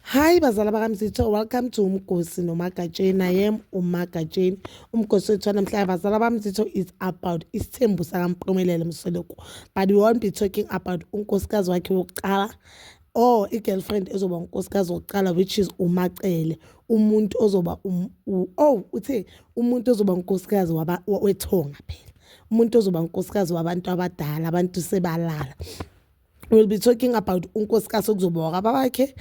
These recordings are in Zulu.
Hi bazala bakamzitho welcome to umgosi nomagatsheni i am umagatsheni umgosi wethu namhlanje bazala bamzitho is about isithembu sakampumelelo msoloko but we won't be talking about unkosikazi wakhe wokuqala or i-girlfriend ezoba unkosikazi wokuqala which is umacele umuntu ozoba um, oh uthe umuntu ozoba unkosikazi wethonga phela umuntu ozoba unkosikazi wabantu abadala abantu sebalala we'll be talking about unkosikazi okuzoba wakaba wakhe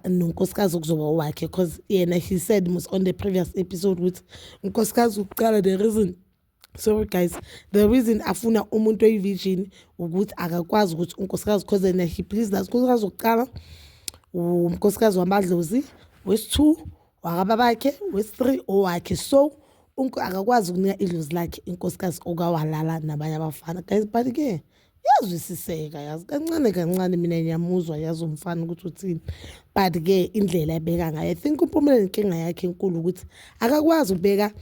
nonkosikazi okuzoba wakhe because yena he said mus on the previous episode ukuthi unkosikazi ukuqala the reason sorry guys the reason afuna umuntu oyi-virgin ukuthi akakwazi ukuthi unkosikazi because yena he please that unkosikazi wokuqala umnkosikazi wamadlozi wesi-two wakaba bakhe wesi-three owakhe so akakwazi ukunika idlozi lakhe inkosikazi okawalala nabanye abafana guys but-ke yazwisiseka yazi kancane kancane mina ngiyamuzwa yazi umfana ukuthi uthini but ke indlela ebeka ngayo i think umpumela nenkinga yakhe enkulu ukuthi akakwazi ukubeka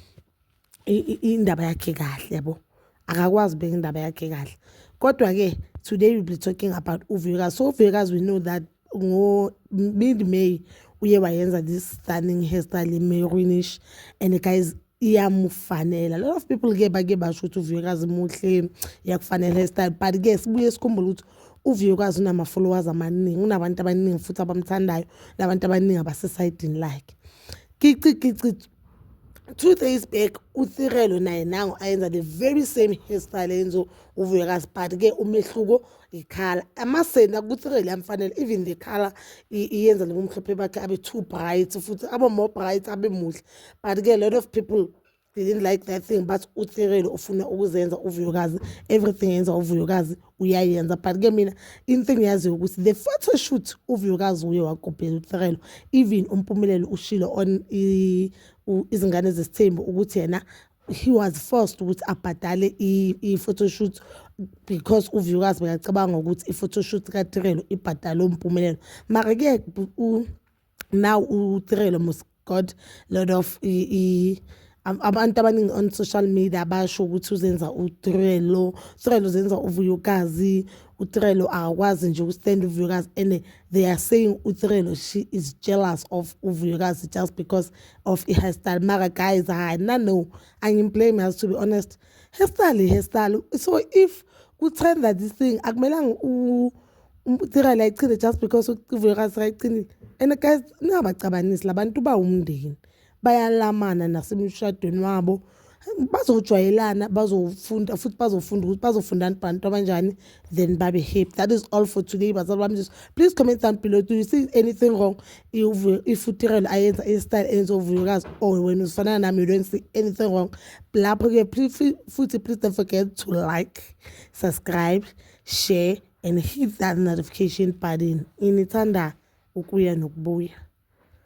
indaba yakhe kahle yabo akakwazi ukubeka indaba yakhe kahle kodwa ke today we'll be talking about uvuyekazi so uvuyekazi we know that ngo-mid may uye wayenza this stunning hairstyle imerinish and guys iyamufanela a lot of people ke bake basho ukuthi uvuyekazi muhle iyakufanela hairstyle but ke sibuye sikhumbule ukuthi uvuyekazi unama-followers amaningi unabantu abaningi futhi abamthandayo nabantu abaningi abasesayidini lakhe kici kici two days back uthirelo naye nango ayenza the very same hairstyle enzo uvuyekazi but ke umehluko ngikhala amasende akuthireli amfanele even the color iyenza lo mhlophe bakhe abe too bright futhi abe more bright abe muhle but ke a lot of people didn't like that thing but uthireli ufuna ukuzenza uvuyokazi everything yenza uvuyokazi uyayenza but ke mina into engiyaziyo ukuthi the photo shoot uvuyokazi uye wakopela uthirelo even umpumelelo ushilo on izingane zesithembu ukuthi yena he was forced ukuthi abhadale i-photoshoot because uviewers bekacabanga ukuthi i-photoshoot katirelo ibhadale umpumelelo mara-ke now utirelo must got lot of abantu abaningi on social media basho ukuthi uzenza utirelo utirelo zenza uvuyukazi utirelo akakwazi nje ukustanda uvuyukazi and they are saying utrelo she is jealous of uvuyokazi just because of i-hairstyle mara guys hayi na no angimblame as to be honest hairstyle i-hairstyle so if kutrenda this thing akumelanga utrelo ayichinde just because uvuyokazi ayichindile and guys ningabacabanisi labantu bawumndeni bayalamana nasemshadweni wabo bazojwayelana bazofunda futhi bazofunda ukuthi bazofundani bantu abanjani then babe happy that is all for today bazali bami jesu please comment down below do you see anything wrong ifutirelo ayenza istyle enza uvuyokazi or oh, wena uzifanana nami you don't see anything wrong lapho-ke futhi please don't forget to like subscribe share and hit that notification button inithanda ukuya nokubuya